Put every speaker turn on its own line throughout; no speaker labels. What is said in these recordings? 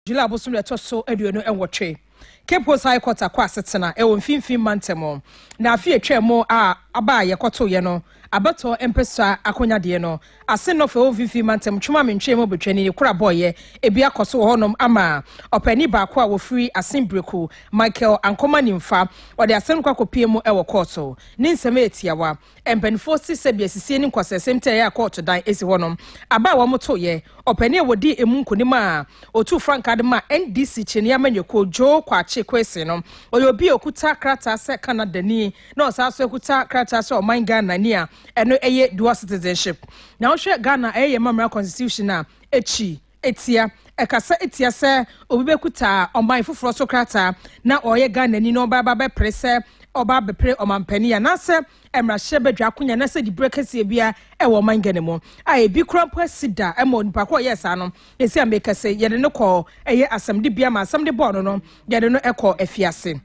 July bosome da ɛtɔ so aduonu nwɔtwe. Cape Coast High Court akɔ asetena wɔ Mfinfin Mantam na afe a ɛtwaa mu a aba a yɛkɔtoeɛ no, abɛtɔ mpasua akɔnyadeɛ no ase nnɔfo a ɛwɔ Mfinfin Mantam twom a mentwee mu betwani ne koro a bɔeɛ ebi akɔ so wɔ hɔnom ama ɔpaani baako a wɔfiri Asen Breku, Michael Ankoma Nimfa. Wɔde asɛm no kɔ akɔpue mu wɔ kɔɔto. Ne nsɛm yɛ tiawa. Mpanimfoɔ se sɛbi asisie ne nkwasɛsɛm nti a ɛyɛ a kɔɔto dan si hɔ no aba a wɔtoeɛ. Ɔpanin a wɔdii emu nkonim a ɔtuu frankaa de maa NDC kyinii amanyɔkuo Joe Kwakye Kwesi no, ɔyɛ obi a ɔkuta krataa sɛ Canadani na ɔsan nso akuta krataa sɛ ɔman Ghanani a ɛno yɛ dual citizenship. Na wohwɛ Ghana ɛyɛ yɛn mammara constitution a, ɛkyi. Etia, ɛkasa tia sɛ obi bɛkuta ɔman foforɔ so krataa na ɔyɛ Ghanani na ɔba ba bɛpere sɛ ɔba abɛpere ɔmanpanin anaasɛ mmarahyɛ badwa akonya anaasɛ diberɛ kɛseɛ biara wɔ ɔman Ghana mu a ebi koraa mpo asi da ma onipa ko a ɔyɛɛ saa no. Ɛsei a merekasa yi, yɛde no kɔɔ ɛyɛ asɛmdibea ma asɛm de bɔɔ no no, yɛde no kɔɔ afiase.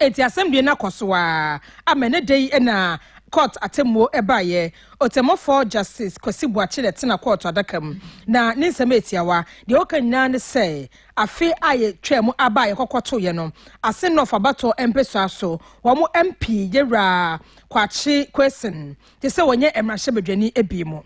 Enti asɛm deɛ no akɔ so ara ama ɛnnɛ da yi na kɔɔt atemmuo baeɛ. Ɔtemmufɔɔ Justice Kwasi Boakye na ɛtena kɔɔto adaka mu na ne nsɛm yɛ tiawa. Deɛ ɔka nyinaa ne sɛ afe a yɛtwaa mu aba a yɛkɔkɔtoeɛ no, Asen North abatoɔ mpesua so wɔn MP Yɛwura Kwakye Quayson gye sɛ ɔnyɛ mmarahyɛbadwani bio.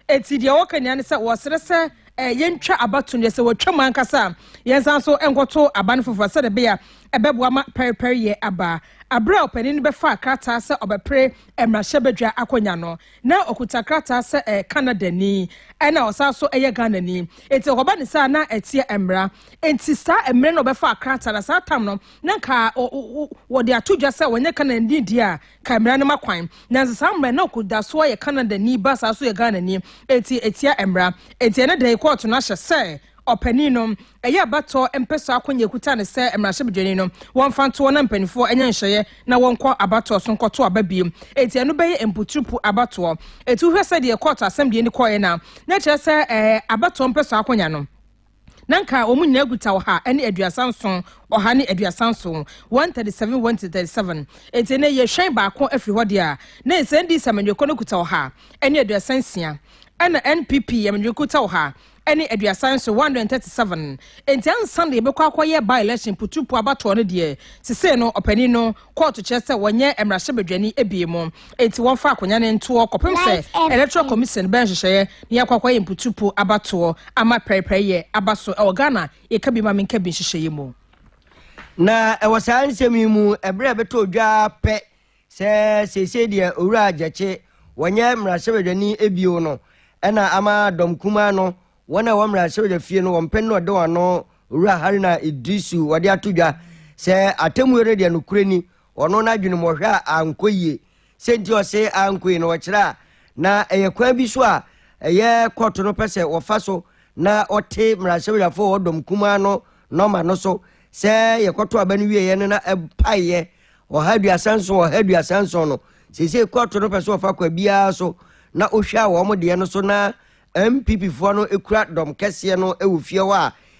Enti deɛ wɔka nyinaa ne sɛ wɔsrɛ sɛ yɛntwa abato no deɛ sɛ wɔtwa mu ankasa a yɛnsan so nkɔto aba no foforɔ sɛdeɛ ɛbɛyɛ a ɛbɛboa ma pɛrepɛreyɛ aba. Berɛ a ɔpanin no bɛfaa krataa sɛ ɔbɛpere mmarahyɛbadwa akonnwa no, na ɔkuta krataa sɛ ɛyɛ Canadani ɛnna ɔsan so yɛ Ghanani. Enti ɔkɔba ne saa na ɛteɛ mmara. Enti saa mmerɛ na ɔbɛfaa krataa na saa tam no na nka wɔde ato dwa sɛ wɔnyɛ Canadani deɛ a Kae mmara no ma kwan. Nanso saa mmara yi, na ɔda so ara yɛ Canadani, ba saa nso yɛ Ghanani. Enti etia mmara. Enti ɛnnɛ da yi kɔɔto no ahyɛ sɛ ɔpanin no, ɛyɛ abatoɔ mpɛsoa akwannya a ɛkuta no sɛ mmarahyɛbadwani no, wɔmfa ntoɔ na mpanimfoɔ nyɛ nhyehyɛeɛ na wɔnkɔ abatoɔ so nkɔto aba bio. Enti ɛno bɛyɛ mpoturupu abatoɔ. Enti wohwɛ sɛdeɛ kɔɔto asɛm deɛ no kɔeɛ no a, na ɛkyerɛ sɛ ɛɛ abatoɔ mpɛsoa akwannya no, Na anka wɔn nyinaa kuta ɔha ne aduasa nson, ɔha ne aduasa nson, 137, 137. Enti ɛnnɛ yɛhwɛn baako afiri hɔ deɛ a, na ɛsɛ NDC amanyɔkuo no kuta ɔha ne aduasa nsia, ɛna NPP amanyɔkuo kuta ɔha ne aduasa nson, 137. Enti ansa na yɛbɛkɔ akɔyɛ by-election, putupu abatoɔ no deɛ, sesei no ɔpanin no, Kɔɔto kyerɛ sɛ wɔnyɛ mmarahyɛbadwani abien mu, enti wɔmfa akonnwa no ntoɔ kɔpem sɛ Electoral Commission bɛyɛ nhyehyɛeɛ na yɛakɔ akɔyɛ mputupo abatoɔ ama pɛrepɛreyɛ aba so wɔ Ghana yɛka bi ma menka bi nhyehyɛeɛ mu. Na
ɛwɔ saa nsɛm yi mu, ɛberɛ a ɛbɛtɔɔ dwa ara pɛ sɛ seesei deɛ Owura Gyekye, wɔnyɛ mmarahyɛbadwani bio no, ɛna ama dɔm kumaa no Wɔn a ɛwɔ mmarahyɛbadwa fie no wɔn pɛ no na ɔde wɔn ano Owura Haruna Idrisu wɔde ato dwa sɛ atemmuo no deɛ nokorɛ ni ɔno n'adwene mu ɔhwɛ a ankɔ yie. Sɛ nti ɔse ankɔ yie no ɔkyerɛ a na ɛyɛ kwan bi so a ɛyɛ kɔɔto no pɛ sɛ wɔfa so na ɔte mmarahyɛbadwafoɔ wɔ dɔm kumaa no nɔma no so sɛ yɛkɔto aba no wieɛ no na ɛpaeɛ ɔha aduasa nson ɔha aduasa nson no seesei kɔɔto no pɛ sɛ ɔfa kwa biara so na ɔhwɛ a wɔn deɛ no so na NPP foɔ no kura dɔm kɛseɛ no wɔ fie hɔ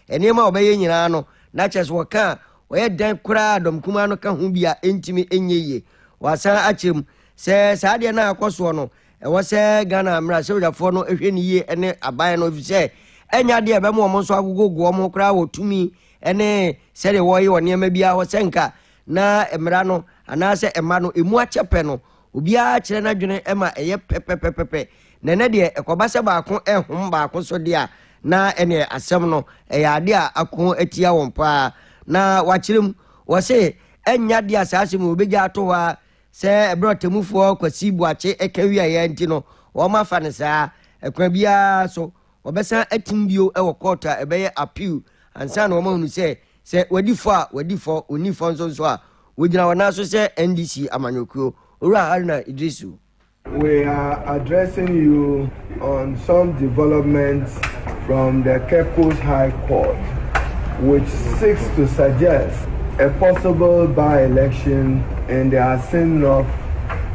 a nneɛma a wɔbɛyɛ nyinaa no na kyerɛ sɛ wɔka a wɔyɛ dɛn koraa a dɔm kumaa no ka ho bi a ɛntumi nyɛ yie. Wɔasan akyerɛ mu sɛ saa adeɛ no a ɛkɔ soɔ no ɛwɔ sɛ Ghana mmarahyɛbadwafoɔ no hwɛ no yie ne aban no ɛfiri sɛ ɛnyɛ adeɛ a ɛbɛma wɔn nso agogogo wɔn ho koraa wɔ tumi ne sɛdeɛ wɔyɛ wɔn nneɛma biara hɔ sɛ nka na mmara no anaasɛ ɛma no ɛmu akyɛ pɛ no Obiara kyerɛ n'adwene ma ɛyɛ pɛpɛpɛpɛ, na ɛnnɛ deɛ ɛkɔba sɛ baako rehom baako so deɛ a, na ɛnneɛ asɛm no, ɛyɛ adeɛ a ako atia wɔn pa ara. Na wɔakyerɛ mu, wɔse, Ɛnyɛ adeɛ a saa asɛm yi wɔbɛgya ato hɔ ara sɛ ɛberɛ a ɔtemmufoɔ Kwasi Boakye ka wieeɛ ara nti no, wɔafa no saa. Ɛkwan biara so, wɔbɛsan atim bio wɔ kɔɔto a ɛbɛyɛ appeal ansa na wɔahunu sɛ Sɛ wɔadi fɔ a, wɔadi fɔ, wɔnni fɔ nso nso a, wɔgyina wɔn nan so sɛ NDC amanyɔkuo. Owura Haruna Iddrisu. We are
addressing you on some developments from the Cape Coast High Court which seeks to suggest a possible by-election in the Asin North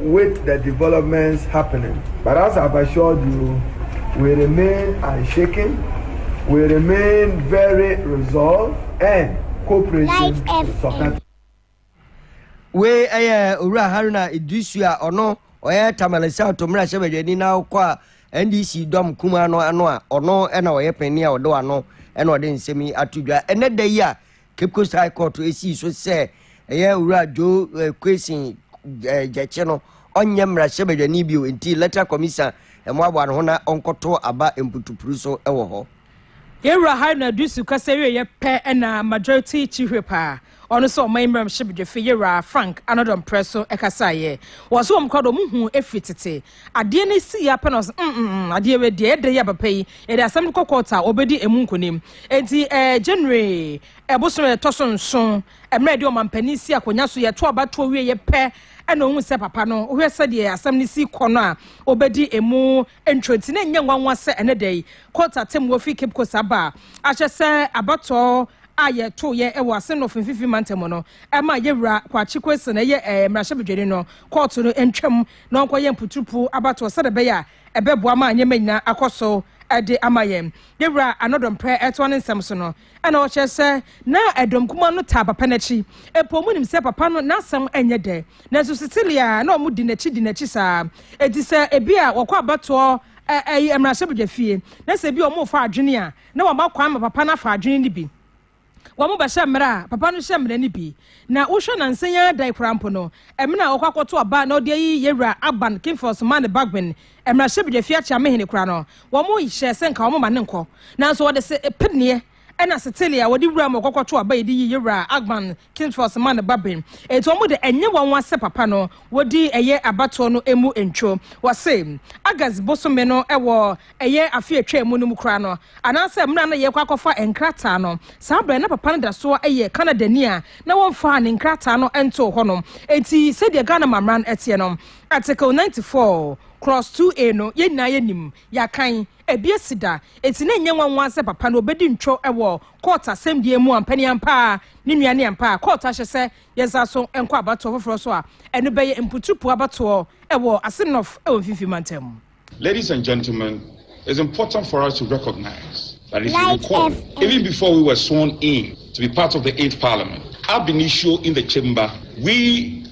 With the developments happening but as I've assured you we remain unshaken, we remain very resolved and cooperating to support.
Wei ɛyɛ Owura Haruna Iddrisu a ɔno ɔyɛ Tamale South mmarahyɛ badwani na ɔkɔ a NDC dɔm kuma no ano a ɔno ɛna ɔyɛ panyin a ɔde wano ɛna ɔde nsɛm yi ato dwa ɛnɛ da yi a Cape Coast High Court sii so sɛ ɛyɛ Owura Joe Quayson Gyekye no ɔnyɛ mmarahyɛbadwani bio nti Electoral Commission mmoaboa no ho na ɔnkɔto aba mputupuru so wɔ hɔ. Yɛn Wura
Haruna Iddrisu kasa wieeɛ pɛ na Majority Chihwip a ɔno sɛ ɔman mmarahyɛbadwafi Yɛn Wura Frank Anodom Prɛso kasaeɛ. Wɔse wɔn koraa deɛ wɔn huu firi tete Adeɛ no esi yɛ apɛ na ɔse mm mm mm adeɛ wei deɛ ɛdɛ yɛ papa yi yɛde asɛm no kɔ court a ɔbɛdi emu nkonim. Enti ɛɛ January ɛbosom a ɛtɔ so nson ɛmmerɛ yɛde ɔmanpanin si akonya so yɛto aba toɔ wie yɛ pɛ ɛna ohun sɛ papa no wohwɛ sɛdeɛ asɛm no si kɔ no a ɔbɛdi emu ntwerɛ nti na ɛnyɛ nwanwa sɛ ɛnɛ da yi court atemmuo firi Cape Coast aba a akyɛ sɛ abatɔɔ a yɛto yɛ ɛwɔ Assinnoff mfimfini mantam no ɛma yɛwura Kwakye Quayson ɛyɛ ɛɛ mmarahyɛbedwani no court no ntwam na ɔnkɔyɛ mputurupu abatoɔ sɛdeɛ ɛbɛyɛ a ɛbɛboa ma nneɛma nyinaa akɔ so de ama yɛn. Yɛwura Anɔdɔ Mprɛ toa ne nsɛm so no na ɔkyerɛ sɛ, Ná dɔm kumaa no taa papa no akyi, mpo wɔnim sɛ papa no n'asɛm nyɛ dɛ, nanso Cecilia na wɔdi n'akyi di n'akyi saa. Enti sɛ ebia wɔkɔ abatoɔ mmarahyɛbadwafie na sɛ ebia wɔrefa adwene a, na wama kwan ma papa no afa adwene no bi. Wɔbɛhyɛ mmara a papa no hyɛ mmara no bi. Na wohwɛ nansa yi ara dan koraa mpo no, ɛmene a ɔkɔ akɔto aba na ɔde ayi Yɛwura Aban Kingfors Mane Bagbin, Mmarahyɛbedwafi Akyeame Hene koraa no, wɔhyɛɛ sɛ nka wɔmma no nkɔ. Nanso wɔde se, peneɛ ne asetele a wɔde wura mu a ɔkɔ kɔto aba yi de yi Yɛwura Aban King Charles ma ne babem. Enti wɔn de, ɛnyɛ wɔn nwa sɛ papa no, wɔdi ɛyɛ abatoɔ no mu ntwo. Wɔse, August bosome no wɔ ɛyɛ afe a ɛtwaa mu no mu koraa no, anaasɛ mmerɛ a na yɛrekɔ akɔfa nkrataa no, saa berɛ no na papa no da soɔ yɛ Canadani a na wɔmfaa ne nkrataa no ntoo hɔ nom. Enti sɛdeɛ Ghana Mmamra no teɛ no, Article ninety four, Clause two A no, yɛn nyinaa yɛnim, yɛakan, ɛbi asi da. Enti na ɛnyɛ nwanwa sɛ papa no ɔbɛdi ntwo wɔ Court asɛmdie mu ampa ni ampa ara ne nua ne ampa a court ahyɛ sɛ yɛnsan so nkɔ abatoɔ foforɔ so a ɛno bɛyɛ mputupu abatoɔ wɔ Ase North wɔ Mfimfini Mantam. Ladies and
gentlemen, it's important for us to recognize that if you recall, even before we were sworn in to be part of the eighth parliament, ab initio in the chamber, we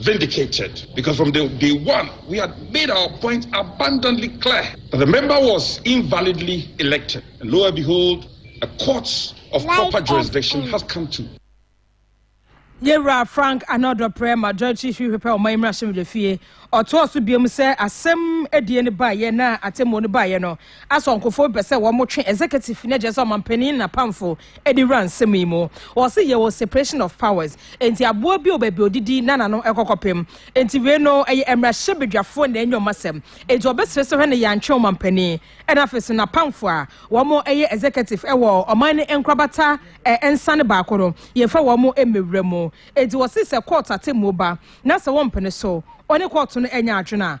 vindicated because from the day one we had made our point abundantly clear that the member was invalidly elected and lo and behold a court of like proper jurisdiction has come to
yɛwura frank anɔdɔprɛ majority hwehwepɛ ɔman mmarahyɛbadwafie ɔtoa so biom sɛ asɛm adie no baeɛ na atemmuo no baeɛ no Asɔnkofo mpɛ sɛ wɔn twe executive no ɛkyerɛ sɛ ɔmanpanin na pamfo ɛde wura nsɛm yi mu wɔse yɛwɔ separation of powers enti aboa bi wɔ baabi ɔdidi na nano ɛkɔ kɔpem enti wei no ɛyɛ ɛmrahyɛ badwafoɔ na ɛnyɛ ɔmo asɛm enti ɔbɛsrɛ sɛ hwɛ no yɛantwe ɔmanpanin ɛna afei so na pamfo a wɔn ɛyɛ executive ɛwɔ ɔman no nkorabata ɛnsa no baako no yɛnfa wɔn mmɛwura mu enti wɔse sɛ court atemmuo ba na sɛ wɔmpene so ɔne court no ɛnyɛ adwene a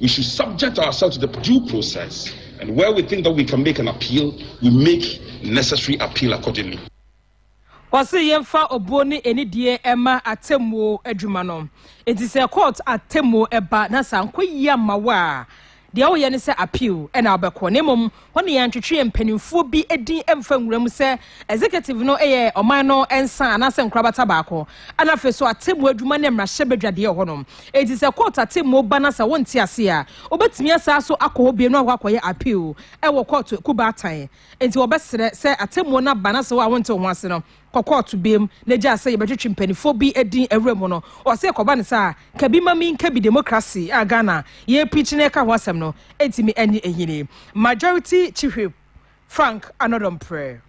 We should subject ourselves to the due process and where we think that we can make an appeal, we make necessary appeal accordingly. Ɔse
yɛmfa obuo ne anidie mma atemmuo adwuma no. Enti sɛ court atemmuo ba na sɛ ankɔ yie amma wo a, deɛ woyɛ ne sɛ appeal na wobɛkɔ na mmom Hɔ na yɛantwetwe yɛn mpanimfoɔ bi din mfa nwura mu sɛ Executive no yɛ ɔman no nsa anaasɛ nkorabata baako. Ɛna afei nso atemmuo adwuma ne mmarahyɛbadwadeɛ wɔ hɔnom. Enti sɛ kɔɔto atemmuo ba na sɛ wonte ase a, wobɛtumi asan so akɔ hɔ bio na wakɔ akɔyɛ appeal wɔ kɔɔto akubaatan. Enti wɔbɛsrɛ sɛ atemmuo no aba na sɛ wo a wonte wo ho ase no, kɔ kɔɔto biam na gyaa sɛ yɛbɛtwetwe mpaninfoɔ bi din awura mu no, ɔse ɛkɔba no saa a, ka bi ma me nka bi Democracy a Ghana yɛ preach na ɛka ho asɛm no ntimi ɛnye ɛnyini Majority Chihwip Frank Anodɔmprɛ.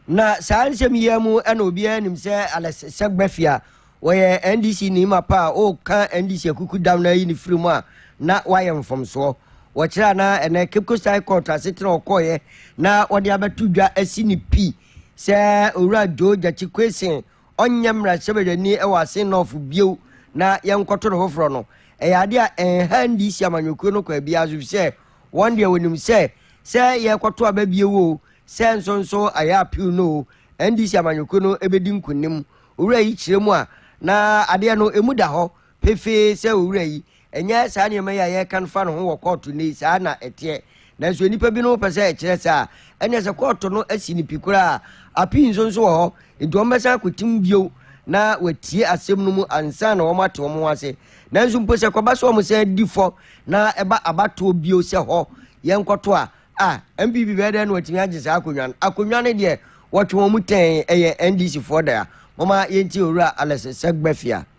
Na
saa nsɛm yi ara mu na obiara nim sɛ Alex Segbeffi a ɔyɛ NDC ni mapa a ɔreka NDC akukudam no ayi ne firi mu a na wayɛ mfomsoɔ. Wɔkyerɛ anaa ɛnɛ Cape Coast High Court asetena a ɔkɔeɛ na wɔde abɛto dwa asi ne pii Sɛ Owura Joe Gyakye Quayson ɔnyɛ mmarahyɛbadwani wɔ Asin North bio na yɛnkɔto no foforɔ no, ɛyɛ adeɛ a ɛnha NDC amanyɔkuo no kwan biara so efisɛ wɔn deɛ wɔnim sɛ, sɛ yɛkɔto aba bio oo, sɛ nso nso ayɛ appeal no oo, NDC amanyɔkuo no bɛdi nkonim. Owura yi kyerɛ mu a, na adeɛ no ɛmu da hɔ. pefee sɛ owura yi, ɛnyɛ saa nneɛma yi a yɛreka fa ne ho wɔ kɔɔto nnɛ yi saa na ɛteɛ. Nanso nnipa binom pɛ sɛ ɛkyerɛ saa. Ɛnneɛ sɛ kɔɔto no asi no pi koraa a, appeal nso nso wɔ hɔ, enti wɔbɛsan akɔtim bio na wɔatie asɛm no mu ansa na wɔate wɔn ho ase. Nanso mpo sɛ ɛkɔba sɛ wɔsan di fɔ na ɛba abatoɔ bio sɛ hɔ yɛnkɔto a, ah, NPP bɛyɛ dɛn na wɔatumi agye saa akonnwa no? Akonnwa no deɛ wɔtwe wɔn tɛn, ɛyɛ NDCfoɔ dea. Momma yɛntie Owura Alex Segbefia.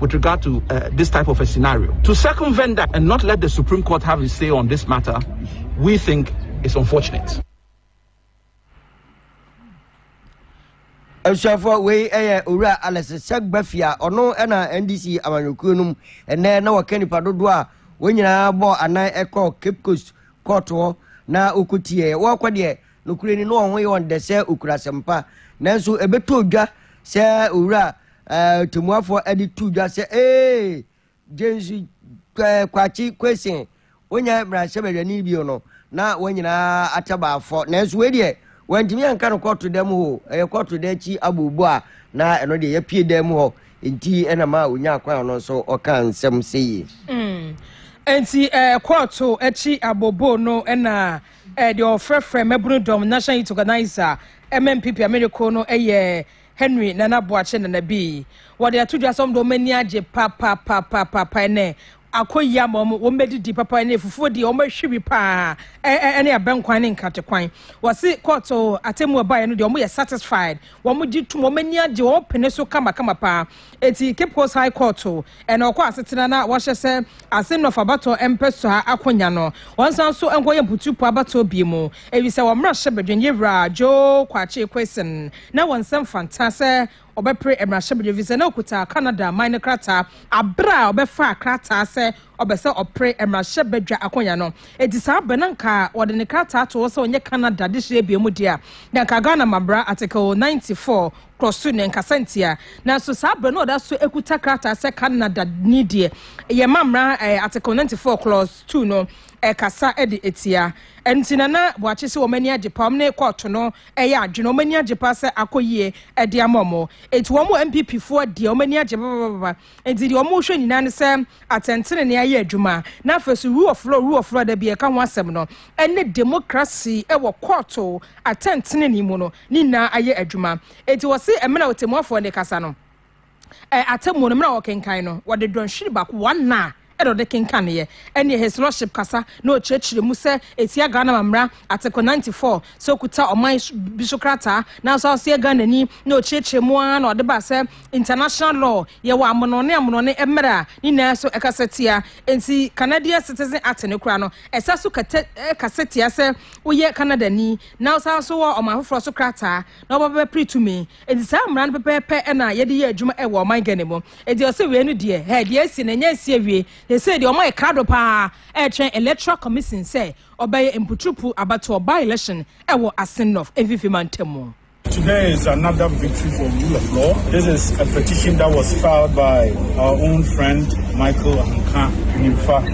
with regard to uh, this type of a scenario. To circumvent that and not let the Supreme Court have its say on this matter, we think is unfortunate.
nsuafoɔ wei yɛ owura alex sɛgbafi a ɔno na ndc amanyɔkuo no mu ɛnɛ na wɔka nipa dodoɔ a wɔn nyinaa bɔ anan ɛkɔ cape coast kɔɔtoɔ na wɔkɔtiɛ wɔkɔ deɛ nokorɛ ni na wɔn ho yɛ wɔn dɛ sɛ ɔkura asɛmpa nanso ɛbɛtɔ dwa sɛ owura Ɔtɛmmuafoɔ de too dwa sɛ, Ee! Gyensu ɛɛ Kwakye Kwesi, wonyɛ mmarahyɛbadwani bio no, na wɔn nyinaa atɛ baafɔ. Nanso wei deɛ, wɔantumi anka no kɔɔto dan mu hɔ o. Ɛyɛ kɔɔto dan akyi abooboo a na ɛno deɛ yɛapue dan mu hɔ nti na ɛma ɔnyaa kwan a ɔno nso ɔkaa nsɛm sei. Enti
ɛɛ kɔɔto akyi abooboo no na ɛɛ deɛ wɔfrɛfrɛ mmabunu dɔm, National Youth Organiser, MMPP Ameriko no yɛ Henry Nana Boakye Nana Bii. Wɔde ato dwa sɛ wɔn de wɔn ani agye papapapaapa ɛnɛ akɔ yi ama wɔn wɔn bɛdidi papa ɛne afufuo deɛ wɔn ahwi bi paa ɛ ɛ ɛne abɛnkwan ne nkratekwan wɔsi kɔɔto atemmu ɛbaeɛ no deɛ wɔn yɛ satisfied wɔn gye tum wɔn ani agye wɔn pene so kamakama paa Eti Kyprus High Court o, ɛna ɔkɔ asetena na wɔahyɛ sɛ Arsenough abatoɔ mpɛsoa akonya no, wɔnsan nso nkɔyɛ Mputupo abatoɔ biom o, efisɛ wɔn mmarahyɛbadwa ni Wura Joe Kwakye Quayson na wɔn nsam fantaa sɛ ɔbɛpere mmarahyɛbadwa efisɛ na ɔkuta Canada aman no krataa abere a ɔbɛfaa krataa sɛ ɔbɛ sɛ ɔpere mmarahyɛbadwa akonya no. Eti saa bɛ na nka wɔde ne krataa to hɔ sɛ ɔnyɛ Canada dehyeɛ biom deɛ a, na nka Ghana Mmabra Article 94, kɔ so na ɛnkasa ntia. Nanso saa berɛ no ɔda so kuta krataa sɛ Canada ni deɛ yɛma mmara eh, Article 94 clause 2 no ɛkasa eh, de atia. Ɛnti Nana Boakye sɛ wɔn ani agye paa, wɔn ne kɔɔto no ɛyɛ eh, adwene, wɔn ani agye paa sɛ akɔ yie ɛde ama wɔn. Ɛnti wɔn wɔ NPP foɔ deɛ wɔn ani agye babababa. Enti deɛ wɔrehwɛ nyinaa ne sɛ atɛntenenee ayɛ adwuma, na afei nso rule of law, rule of law da bi a ɛka ho asɛm no, ne demokrasi wɔ kɔɔto atɛntenenee mu no, ne nyinaa ayɛ adwuma. Enti wɔse mmerɛ a ɔtɛmmuafoɔ no rekasa no, atemmuo no mmerɛ a wɔrekenkan no, wɔde dɔnhwere baako, one hour, na ɔde kenkaneeɛ, ɛnneɛ Heslɔship kasa na ɔkyerɛkyerɛ mu sɛ ɛtia Ghana amammerɛ, Article 94, sɛ ɔkuta ɔman bi so krataa, nanso ɔsɛ Ghanani, na ɔkyerɛkyerɛ mu ara na ɔde baa sɛ international law, yɛwɔ amonɔne amonɔne mmerɛ a ne nyinaa so ɛkasa tia, enti Canadian Citizen Act no koraa no, ɛsa so kɛtɛ kasa tia sɛ woyɛ Canadani, na wosan nso wɔ ɔman foforɔ so krataa na wobɛba bɛpere tumi. Enti saa mmara no pɛpɛɛpɛ na yɛde yɛ adwuma wɔ ɔman Ghana mu. Enti ɔse wei no deɛ, hɛ, deɛ asi no ɛnyɛ asi awie. Na sei deɛ wɔayɛ krado paa ɛretwɛn Electoral Commission sɛ ɔbɛyɛ mputurupu abatoɔ, by-election, wɔ Assin-North mfimfini mantam mu. Today is
another victory for rule of law. This is a petition that was filed by our own friend Michael Ankah Nimfa.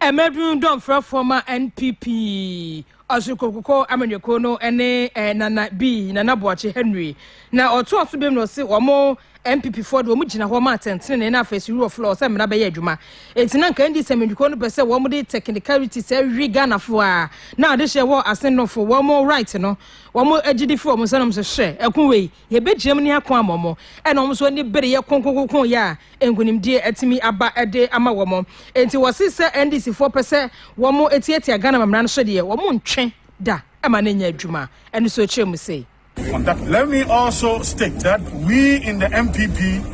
Mmabunu dɔmfrɛfoɔ ma NPP Ɔsorokokuo amanyɔkuo no ne eh, Nana B, Nana Boakye Henry. Na ɔtoa so biom na ɔse wɔn NPPfoɔ de wɔn gyina hɔ ma atɛntenenee na afei suru wɔ floor sɛ mmara bɛyɛ adwuma. Enti na nka NDC amanyɔkuo no pɛ sɛ wɔn de technicality sɛ hwi Ghanafoɔ a na adehyɛ wɔ asenofo wɔn right no wɔn agyidi fi wɔn nsanom so hyɛ ɛko wei. Yɛbɛgyinam ne ako ama wɔn, ɛna wɔn nso ani bereɛ konkonkonkonn yɛ a nkunimdie atumi aba de ama wɔn. Enti wɔse sɛ NDC foɔ pɛ sɛ wɔn tiatia Ghana amammerɛ no so deɛ, wɔn ntwe da ma no nyɛ adwuma. Ɛno nso kyerɛ mu sei. Let me
also state that we in the NPP.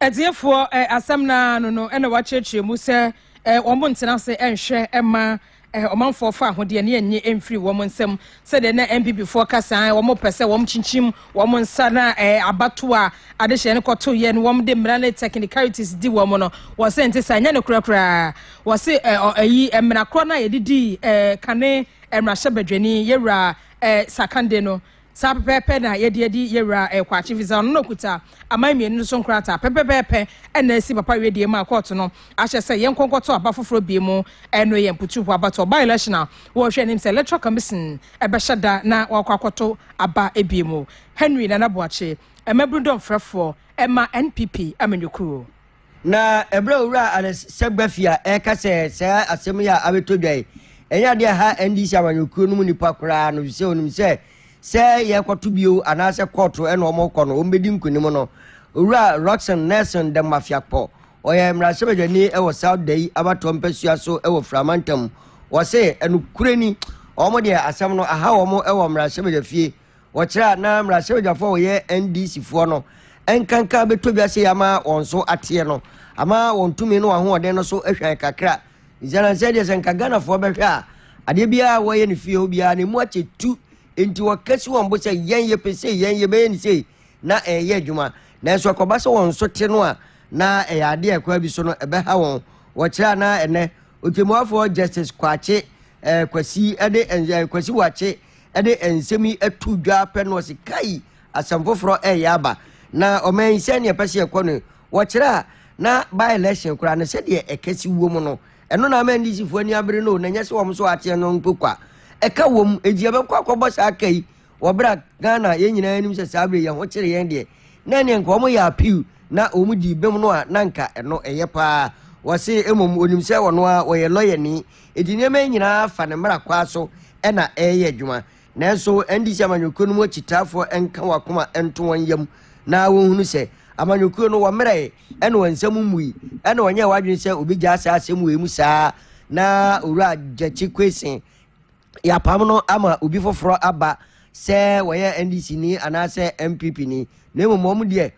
Atiefoɔ
eh, asɛm no ara no no na wɔakyerɛkyerɛ mu sɛ eh, wɔn ntena ase eh, nhwɛ eh, ma eh, ɔmanfoɔ fa ahodeɛ ne ɛnye eh, mfiri wɔn nsam sɛdeɛ na MPPfoɔ ka saa eh, wɔn pɛ sɛ wɔn kyinkyim wɔn nsa na eh, abato a adehyɛ no kɔto yɛ no wɔn de mmara ne technicalities di wɔn no wɔ sɛ nte saa nyɛ no korɛ koraa wɔ se eh, ɔ, ayi eh, mmara korɔ no a yɛde dii eh, kane eh, mmarahyɛ badwani yɛwura eh, sakande no Saa pɛpɛɛpɛ na yɛde adi Yewura Kwakye visa. Ɔno na okuta aman mmienu no so nkrataa pɛpɛpɛɛpɛ na asi Papa Wedeɛ mu a kɔɔto no ahyɛ sɛ yɛnkɔ nkɔto aba foforɔ bie mu. Ɛno yɛ mputuuho abatoɔ, by-election, a wɔrehwɛ anim sɛ Electoral Commission bɛhyɛ da na wɔakɔ akɔto aba bie mu. Henry Nana Boakye, Mmabunu Dɔmfrɛfoɔ ma NPP amanyɔkuo. Na
ɛberɛ a Owura Alex Segbafia ɛreka sɛ saa asɛm yi a abɛtɔ dwa yi, ɛnyɛ adeɛ a ɛha NDC amanyɔkuo no mu nnipa koraa no, efisɛ ɔnim sɛ sɛ yɛrekɔto bio anaasɛ kɔɔto na wɔrekɔ no, wɔbɛdi nkonim no. Owura Rockson Nelson Demmafeakpo, ɔyɛ mmarahyɛbadwani wɔ South Dayi abatoɔ mpasua so wɔ Fira mantam, ɔse nokorɛ ni, wɔn deɛ asɛm no aha wɔn wɔ mmarahyɛbadwafie, Wɔkyerɛ a na mmarahyɛbadwafoɔ a wɔyɛ NDC foɔ no nkanka bɛtɔ dwa sei ama wɔn so ateɛ no ama wɔn tumi ne wɔn ahoɔden no so ahwan kakra. Nsianansi adeɛ sɛ nka Ghanafoɔ bɛhwɛ a adeɛ biara a wɔyɛ no fie hɔ biara na ɛmu akyɛ tu nti wɔkasi wɔn bo sɛ yɛn yɛpɛ sei yɛn yɛbɛyɛ ne sei na ɛyɛ adwuma nanso ɛkɔba sɛ wɔn so te no a na ɛyɛ adeɛ a ɛkwan bi so no ɛbɛha wɔn. Wɔkyerɛ a na ɛnɛ Ɔtɛmmuafoɔ Justice Kwakye eh, Kwasi eh, de eh, Kwasi Wakye de nsɛm yi ato dwa pɛ no ɔse kai asɛm foforɔ ɛyɛ aba na ɔman yi sɛdeɛ ɛpɛ sɛ ɛkɔ no wɔkyerɛ a na by election koraa no sɛdeɛ ɛkɛse wɔ mu no ɛno na ama ndc foɔ ani abere no na ɛnyɛ sɛ wɔn nso ateɛ no mpo kwa ɛka wɔ mu enti yɛbɛkɔ akɔbɔ saa ka yi wɔ berɛ a ghana yɛn nyinaa anim sɛ saa berɛ yɛn ho kyere yɛn deɛ na ɛneɛ nka wɔn yɛ appeal na wɔn di bem no a na nka ɛno ɛyɛ paa wɔse mmom onim sɛ wɔn a wɔyɛ lɔyɛni Enti nneɛma yi nyinaa fa ne mmara kwaa so na ɛreyɛ adwuma. Nanso, ɛnde sɛ amanyɔkuo no mu akyitaafoɔ nka wɔn akoma nto wɔn yam na wɔhunu sɛ amanyɔkuo no wɔmmerɛe ɛna wɔn nsam mmui ɛna wɔnyɛɛ wɔn adwene sɛ wɔbɛgyaa saa asɛm wei mu saa na Owura Gyakye Kwesin yɛapam no ama obi foforɔ aba sɛ wɔyɛ NDC ni anaasɛ MPP ni na mmom wɔn deɛ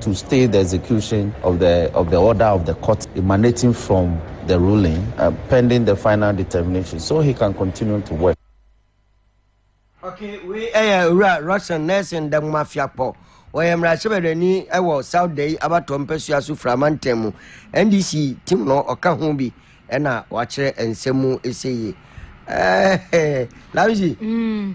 to stay the execution of the of the order of the court emanating from the ruling uh, pending the final determination so he can continue to work.
Okay, we ɛyɛ owura Russian Nelson Damumafiakpɔ wɔyɛ mmarahyɛbadwani wɔ South Dei abatɔ mpɛsua so firi amantam mu NDC tim no ɔka ho bi ɛna wakyerɛ nsɛm mu ɛsɛ yi. Ɛɛ Lamsi. Mm.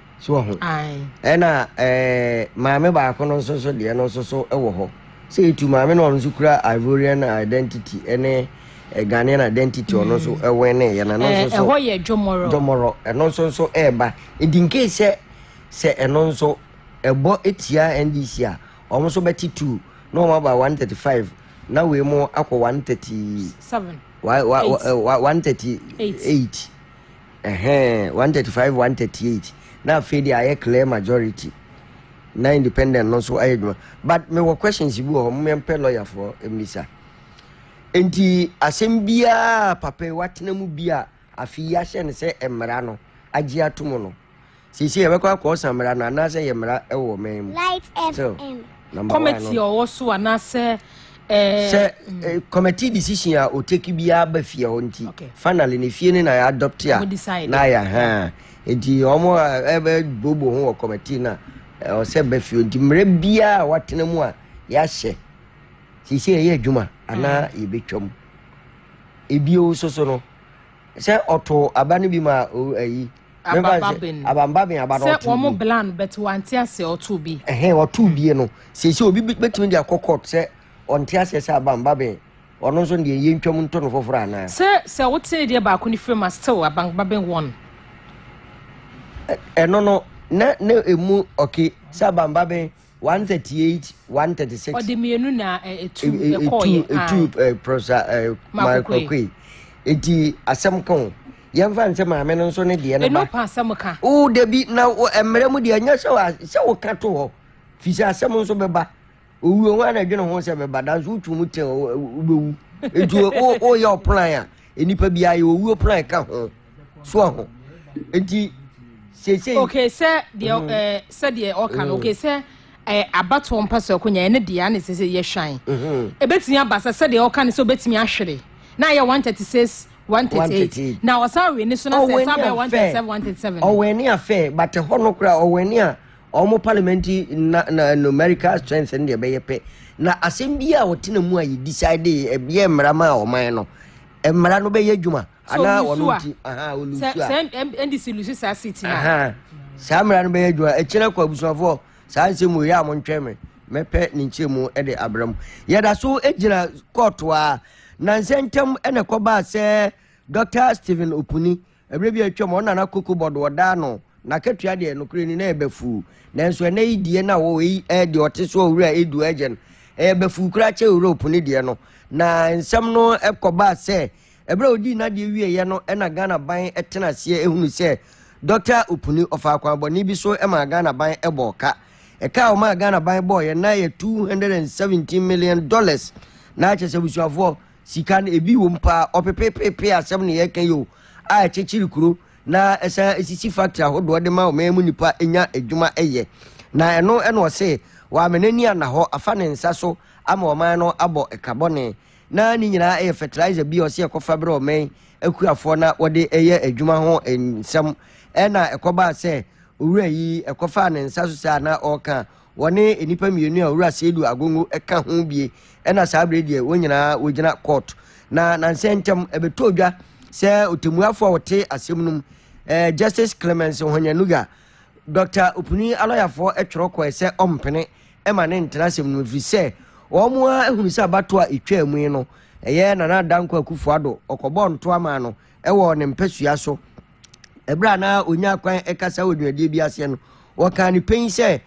so wɔ ho ɛna ɛɛ maame baako no nso so deɛ no nso so wɔ hɔ sɛ etu maame no ɔno nso kura ivorian identity ɛne ghanaian identity ɔno nso mm. ɛwɛn ne yɛ na ɛno nso so ɛhɔ yɛ dwomɔrɔ dwomɔrɔ
ɛno nso nso
ɛɛba edi nke sɛ sɛ ɛno nso ɛbɔ etia ndc a wɔn nso bɛte two na wɔn aba one thirty five na wei mu akɔ one thirty seven one thirty eight. Ɛhɛn, one thirty five, one thirty eight. Na afei deɛ ayɛ clear majority. Na independent no nso ayɛ adwuma. But me wɔ questions bi wɔ hɔ, mo yɛn pɛ lawyer foɔ mmisa. Nti asɛm biara papa yi watena mu bi a afi yi ahyɛ no sɛ mmara no agye ato mu no. Seesei yɛbɛkɔ akɔsa mmara no anaasɛ yɛ mmara wɔ ɔman mu. Light FM. Kɔmɛti a ɔwɔ
so
anaasɛ eh, sɛ eh,
committee decision a ɔteki biara ba fie hɔ nti okay. finally ne fie no na yɛ adopt a na yɛ ha nti ɔmo ɛbɛ bobo ho wɔ committee na ɔsɛ ba fie nti mmerɛ biara a watena mu a yɛahyɛ sisi ɛyɛ adwuma anaa mm. yɛbɛtwam ebio soso no sɛ ɔto aba no bi ma ɛyi abamba ben abamba ben abada sɛ wɔn mo blan bɛt
wante
aseɛ
ɔtoo
bi
ɛhɛn
ɔtoo hmm. bie
no sɛsɛ
obi bɛtumi
de akɔ
court
sɛ
ɔnte aseɛ sɛ abamba ben ɔno nso deɛ yɛ ntwam nto no foforɔ anaa sɛ sɛ wotee deɛ
baako no firi ma still abamba ben wɔn
ɛno no na na ɛmu ɔke sɛ abamba ben
one thirty eight one thirty six. ɔde mmienu na
etu ɛkɔɔyɛ etu pɔrɔsa maakɔkɔe eti asɛm kɔn yɛnfa nsɛ maame no nso ne deɛ no ba ɛnu pa asɛm ka o
dabi na
mmerɛ mu deɛ nyɛ sɛ wa sɛ wɔ ka to hɔ fi sɛ asɛm nso bɛba owuo ho ana adwene ho sɛ bɛba danso wotu mu tɛn wobɛwu etu o o yɛ ɔplan a nnipa biara yɛ owuo pono a ɛka ho so aho nti seesei. okay sɛ
deɛ ɛɛ mm. eh, sɛ deɛ ɔka no mm. okay sɛ ɛɛ eh, abatoɔ mpa so ɛkonya ɛne deɛ ɛna sɛ sɛ yɛ hwan ebetumi mm-hmm. aba sɛ sɛ deɛ ɔka no sɛ obetumi ahwere na yɛ one thirty six. 138 na ɔsan wei ne so na sɛ ɛsan bɛyɛ 137 137 ɔwɛne afɛ
bate hɔ no koraa ɔwɛne a Wɔn parliamentary na na numerical strength no deɛ ɛbɛyɛ pɛ na asɛm bi a wɔtena mu a yɛ decide ɛbɛyɛ mmara ma ɔman no mmara no bɛyɛ adwuma anaa wɔn ti aha olusu a sɛ ndc
lusu saa seat na aha saa mmara no bɛyɛ
adwuma ɛkyerɛ kɔ abusuafoɔ saa nsɛm wɔ yɛ a mo ntwɛn mi mɛpɛ ne nkyɛn mu ɛde abira mu yɛda so gyina kɔɔto a nansa ntam ɛna ɛkɔbaa sɛ dr stephen opuni Ɛberɛ bi a atwam, ɔno na na kokobɔ do ɔda ano. N'akatua deɛ, nokorɛ ni, na ɛyɛ bafuu. Nanso ɛnnɛ yi deɛ na ɔwɔ eyi ɛyɛ deɛ ɔte so a owura edu ɛgye no. Ɛyɛ bafuu koraa kyɛn owura opuni deɛ no. Na nsɛm no kɔbaa sɛ, ɛberɛ a ɔdii n'adeɛ wieeɛ no na Ghana ban tena aseɛ hunu sɛ Dɔkta Opuni ɔfaa akwammɔne bi so maa Ghana ban bɔɔ ka. Ɛka a ɔmaa Ghana ban bɔɔeɛ no na ɛyɛ two hundred and seventeen million dollars. Na kyerɛ sɛ abusuafoɔ, sika no ebi wom paa ɔpepepepe asɛm na yɛka yi o a ɛkyekyere kuro na ɛsan esisi factory ahodoɔ de ma ɔman mu nipa nya adwuma ɛyɛ na ɛno ɛna ɔse wɔama n'ani ana hɔ afa ne nsa so ama ɔman no abɔ ɛkabɔne na ne nyinaa ɛyɛ fertilizer bi a ɔse ɛkɔfa berɛ ɔman akuafoɔ na wɔde ɛyɛ adwuma ho nsɛm ɛna ɛkɔbaa sɛ owura yi ɛkɔfaa ne nsa so saa na ɔka Wɔne nnipa mmienu a Owura Seidu Agongo ka ho bie ɛna saa bere deɛ wɔn nyinaa wɔgyina court. Na nansɛ ntɛm ɛbɛtɔ dwa sɛ otemuafoɔ a wɔte asɛm no mu eh, Justice Clemence Ohonyanuga, Dɔkta Opuni alɔyafoɔ ɛtwerɛ kɔɛ sɛ ɔmpene ɛma ne ntena asɛm no mu ɛfiri sɛ wɔn ara ahunu sɛ abatoɔ a ɛtwaa mu yi no ɛyɛ Nana Dankwa Akufo-Addo ɔkɔbɔɔ ntoa maa no wɔ ne mpasua so. Ɛberɛ a na ɔnya kwan kasa wɔ dwumadie bi aseɛ no, wɔkaa no pɛn sɛ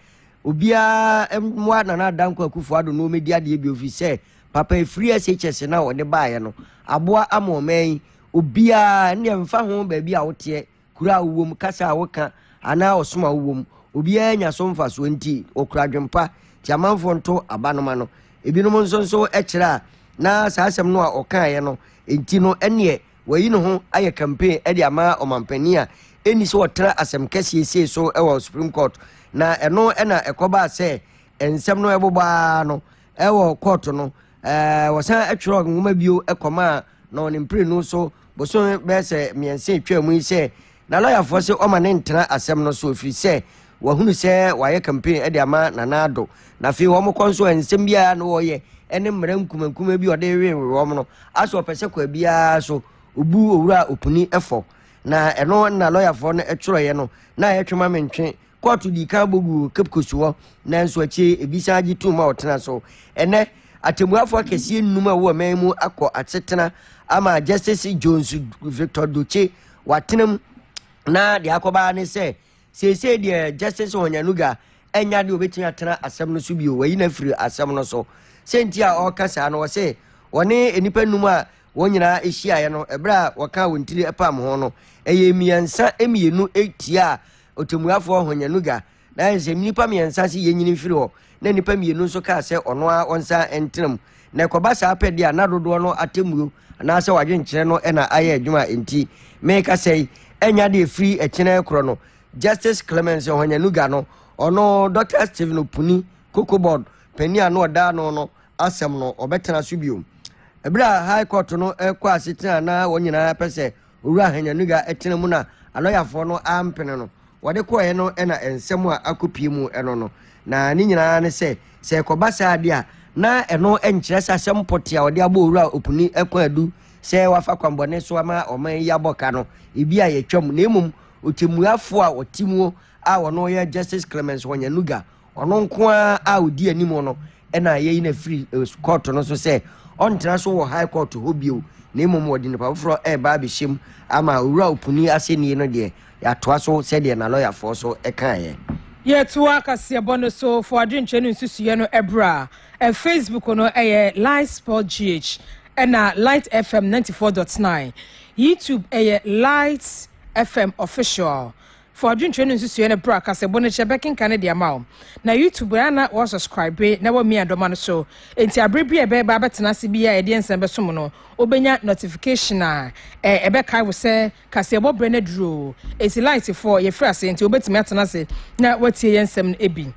obiara mmoa Nana Adankwa Akufo Addo na wɔmɛdi adeɛ bio firi sɛ papa ɛfiri SHS no a wɔde baeɛ no aboa ama ɔman yi obiara ɛnneɛ mfa ho baabi a woteɛ kuro a wowɔ mu kasa a woka anaa ɔsom a wowɔ mu obiara nya so mfasoɔ nti wɔkura adwempa nti amanfoɔ nto abanoma no Ebinom nso nso kyerɛ a na saa asɛm no a ɔkaeɛ no nti no ɛneɛ wayi ne ho ayɛ campaign de ama ɔmanpanin a ɛnni sɛ ɔtra asɛm kɛseɛ sei so wɔ Supreme Court na ɛno na ɛkɔbaa sɛ nsɛm no ɛbobɔ ara no ɛwɔ kɔɔto no wɔsan atwerɛ nwoma bio ɛkɔmaa na ɔne mprenu so boson bɛyɛ sɛ mmiɛnsa atwa mu yi sɛ Na lɔyafoɔ se ɔma no ntena asɛm no so ɛfiri sɛ wɔahunu sɛ wɔayɛ campaign de ama Nana Addo. Na afei wɔn kɔ nso nsɛm biara na wɔyɛ ne mmara nkumankumaa bi a ɔde rewewe wɔn no asɛ ɔpɛ sɛ kwa biara so ɔbu Owura Opuni fɔ. Na ɛno na lɔyafoɔ no twerɛeɛ no na ɛtwe ma mentwe Kɔɔto dii kan bɔ guu Cape Coast hɔ, nanso akyire yi ebi san gye toom ma wɔtenaa so. Ɛnnɛ, atɛmmuafoɔ akɛseɛ nnum a wɔwɔ man mu akɔ asetena ama Justice Jones Victor Dotse watena mu, na deɛ akɔba ara ne sɛ, seesei deɛ Justice Honyanuga anya deɛ ɔbɛtumi atena asɛm no so bio, wayi no afiri asɛm no so. Sɛ nti a ɔreka saa no, ɔse wɔne nnipa nnum a Wɔn nyinaa hyiaeɛ no, ɛberɛ a wɔkaa wɔn tiri pamm ho no, ɛyɛɛ mmiɛnsa mmienu tiaa ɔtɛmmuafoɔ Honyanuga, na ayɛ sɛ nnipa mmiɛnsa se yɛnyini mfiri hɔ, na nnipa mmienu nso kaa sɛ ɔno ara ɔnsan ntena mu. Na ɛkɔba saa pɛ deɛ a, na dodoɔ no atɛmmuo anaasɛ wadwenkyerɛ no na ayɛ adwuma a enti merekasa yi. Ɛnya deɛ ɛfiri ɛkyena korɔ no, Justice Clemence Honyanuga no, ɔno Dɔkta Stephen Opuni, Koko Board panin a na ɔda ano no, asɛm no ɔbɛtena so bio. Bere a High Court no rekɔ asetena a na wɔn nyinaa pɛ sɛ Owura Ahanyanuga tena mu na alɔyafoɔ no ampene no, wɔde kɔeɛ no na nsɛm a akɔpie mu no no. Na ne nyinaa ne sɛ, sɛ ɛkɔba saa deɛ a, na ɛno nkyerɛ sɛ asɛm pɔtee a wɔde abɔ Owura Opuni Akwan-Adu sɛ wafa kwammɔne so ama ɔman yi abɔ ka no, ebi a yɛatwam, na mmom ɔtɛmmuafoɔ a ɔte mu a ɔno yɛ Justice Clemence Wanyanuga, Ɔno nko ara a odi anim no na yɛyi no afiri eh, kɔɔto no so sɛ ɔntena so wɔ high court hɔ bio na mmom wɔde nipa foforɔ ɛreba abɛhyɛ mu ama owura opuni asɛnnie no deɛ yɛatoa so sɛdeɛ na lɔyafoɔ so kaeɛ. Yɛtoa
kaseɛbɔ no so fo adwenkyerɛ no nsusuiɛ no ɛberɛ a eh, Facebook no ɛyɛ eh, Light Sport GH ɛna Light FM 94.9 YouTube ɛyɛ Light FM Official Fa odwintwɛ no nsusuɛ no bra kasɛbo no kyɛ bɛkenka no de ama wo. Na YouTube bere a na wɔ subscribe na wɔ mia dɔma no so enti abere bi a ɛbɛ ba abɛtena ase bi a ɛdeɛ nsa bɛsom no wo bɛnya notification a ɛ ɛbɛ kae wo sɛ kaseɛbɔ bere no aduru o enti light foɔ yɛ firi ase enti wo bɛtumi atena ase na watie yɛ nsɛm no bi.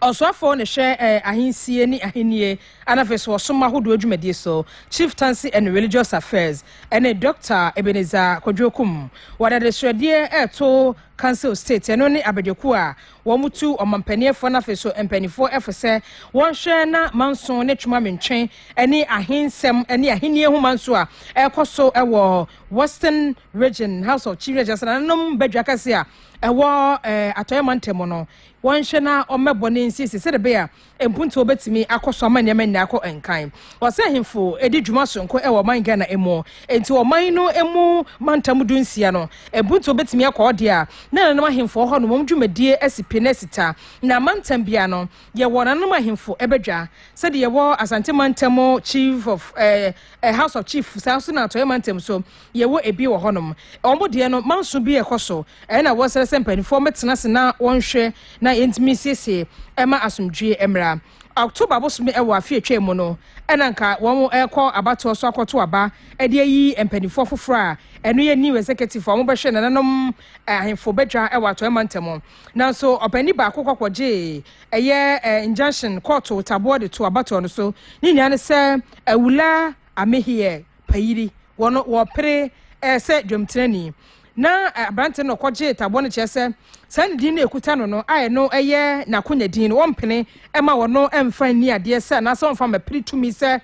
Ɔsoafoɔ no hwɛ eh, ahensie ne ahennie ana afei so ɔsom ahodoɔ dwumadie so, Chieftaincy and Religious Affairs, ɛne Dɔkta Ebenezer Kwadwo Kum. Wɔde adesrɛdeɛ reto Council State, ɛno ne abadwakuo a wɔtu ɔmampaniefoɔ no afei so mpaninfoɔ ɛfo sɛ wɔnhwɛ na manso ne twoma mentwe ne ahensɛm ne ahennie ho manso a ɛrekɔ so wɔ Western Region House of Chief Regents nananom badwa kɛse a ɛwɔ eh, atɔeɛ mantam no wɔnhwɛ na wɔmmɛbɔ ne nsiesie sɛdeɛ ɛbɛyɛ a mpuntuo bɛtumi akɔ so ama nneɛma nyinaa akɔ nkan. Ɔsɛ ahemfo di dwuma sononko wɔ ɔman Ghana mu, enti wɔ ɔman no mu mantam du nsia no, mpuntuo bɛtumi akɔ hɔ deɛ a, na nananom ahemfo wɔ hɔ no wɔn dwumadie asi pi na asi ta. Na mantam biara no, yɛwɔ nananom ahemfo badwa. Sɛdeɛ yɛwɔ Asante mantam Chief of eh, eh, House of Chief, saa nso na Atɔeɛ mantam nso, Yɛwɔ ebi wɔ hɔnom, wɔn deɛ no manso bi rekɔ so, ɛyɛ na wɔsrɛ sɛ mpanimfoɔ mmɛtena ase na wɔnhwɛ na yɛntumi nsiesie ɛma asomdwoeɛ mmra. October bosome ɛwɔ afe a atwam mu no, ɛna nka wɔn rekɔ abatoɔ so akɔto aba de ayi mpanimfoɔ afoforɔ a ɛno yɛ new executive a wɔbɛhwɛ nananom ahemfo badwa ɛwɔ Atɔeɛ Mantam. Nanso ɔpanini baako kɔ akɔgyee ɛyɛ injunction kɔɔto taboɔ de too abatoɔ no so. Ne nyinaa ne sɛ Awula Amehiɛ. payiri wɔ no wɔ pere eh, sɛ dwamtirani na eh, aberante no ɔkɔgye taboɔ no kyerɛ sɛ saa ne din no ɛkuta no no a ɛno ɛyɛ n'akonya din no wɔmpene ɛma wɔno ɛmfa nni adeɛ sɛ anaasɛ wɔmfa ma piri tumi sɛ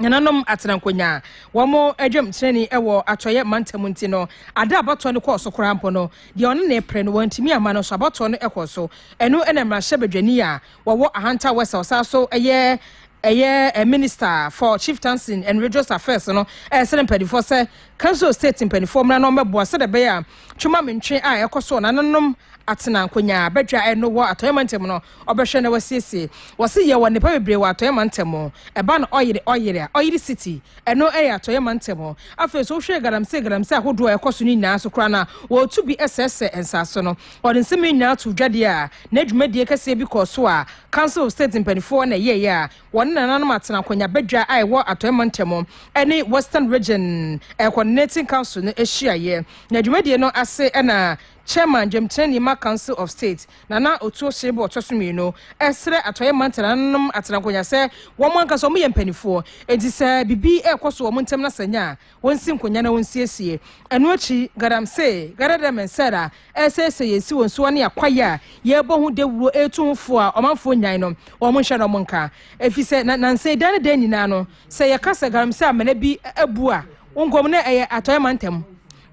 nananom atena nkonyaa wɔn adwamtirani wɔ atɔeɛ mantam nti no ada abatoɔ no kɔɔ so koraa mpo no deɛ ɔne ne pere no wɔntumi ama no so abatoɔ no kɔɔ so ɛno ɛna mmarahyɛ badwani a wɔwɔ Ahanta West a ɔsan nso yɛ ɛyɛ Minister for Chieftaincy and Religious Affairs no ɛresrɛ mpanimfoɔ sɛ Kanso State mpanimfoɔ mmra na wɔmmɛboa sɛdeɛ ɛbɛyɛ a twema mentwe a ɛkɔ so a nananom atena nkonyaa badwa ɛno wɔ Atɔeɛ Mantam no ɔbɛhwɛ na wasiesie. Wɔse yɛwɔ nnepa bebree wɔ Atɔeɛ Mantam. Ɛba no ɔyere ɔyere a, ɔyere city, ɛno yɛ Atɔeɛ Mantam. Afei nso wohwɛ galamsey galamsey ahodoɔ a ɛkɔ so no nyinaa nso koraa no a, wɔretu bi sɛesɛe nsase no. Ɔde nsɛm yi nyinaa too dwa deɛ a na dwumadie kɛseɛ bi kɔɔ so a Council of State mpaninfoɔ na ɛyɛeɛ a wɔne nananom atena akonnwa badwa a ɛwɔ Atɔeɛ Mantam ne Western Region Coordinating Council no hyiaeɛ. Na dwumadie no ase na Chairman Dwamtenani ma Council of State, Nana Otuo Serebour Ɔtɔsommienu, srɛ Atɔeɛ Manta nananom atenakonnwa sɛ wɔn ankasa wɔyɛ mpaninfoɔ enti sɛ biribi rekɔ so wɔ wɔn ntam na sɛ nya a, Wonsi nkonnwa na wonsiesie. Ɛno akyi, galamsey, gada dɛ me nsɛr a ɛresɛesɛe yɛn esiwo nsowa ne akwae a yɛrebɔ ho dawuro retu ho fo a ɔmanfoɔ nyan no, wɔn nhyɛ na wɔn nka. Efisɛ na nansa yi daa ne daa nyinaa no, sɛ yɛka sɛ galamsey amena bi abu a, wɔnkomm na ɛyɛ Atɔeɛ mantam.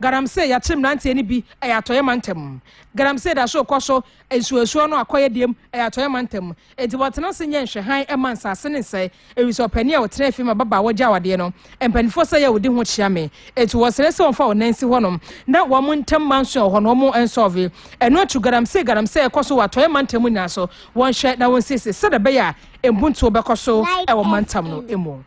Galamsey, yɛakyere mmeranteɛ no bi, ɛyɛ Atɔeɛ mantam. Galamsey da so rekɔ so, nsuoasuo no akɔyɛ diem, ɛyɛ Atɔeɛ mantam. Enti wɔtena ase nyɛ nhwɛhan ma nsase no nsɛe. Ewiso ɔpanyin a ɔtenaa fie ma ababaawa gyaw adeɛ no, mpanimfoɔ sɛ yɛ a wɔdi ho kyea me. Enti wɔsrɛ sɛ wɔmfa wɔn nan nsi hɔnom. Ná wɔn ntam manso wɔ hɔ na wɔnsɔɔvee. Ɛno akyi galamsey galamsey kɔ so wɔ atɔeɛ mantam nyinaa so. Wɔnhwɛ na wɔnsiesie sɛdeɛ ɛbɛyɛ a mpuntuo bɛkɔ so wɔ mantam no mu.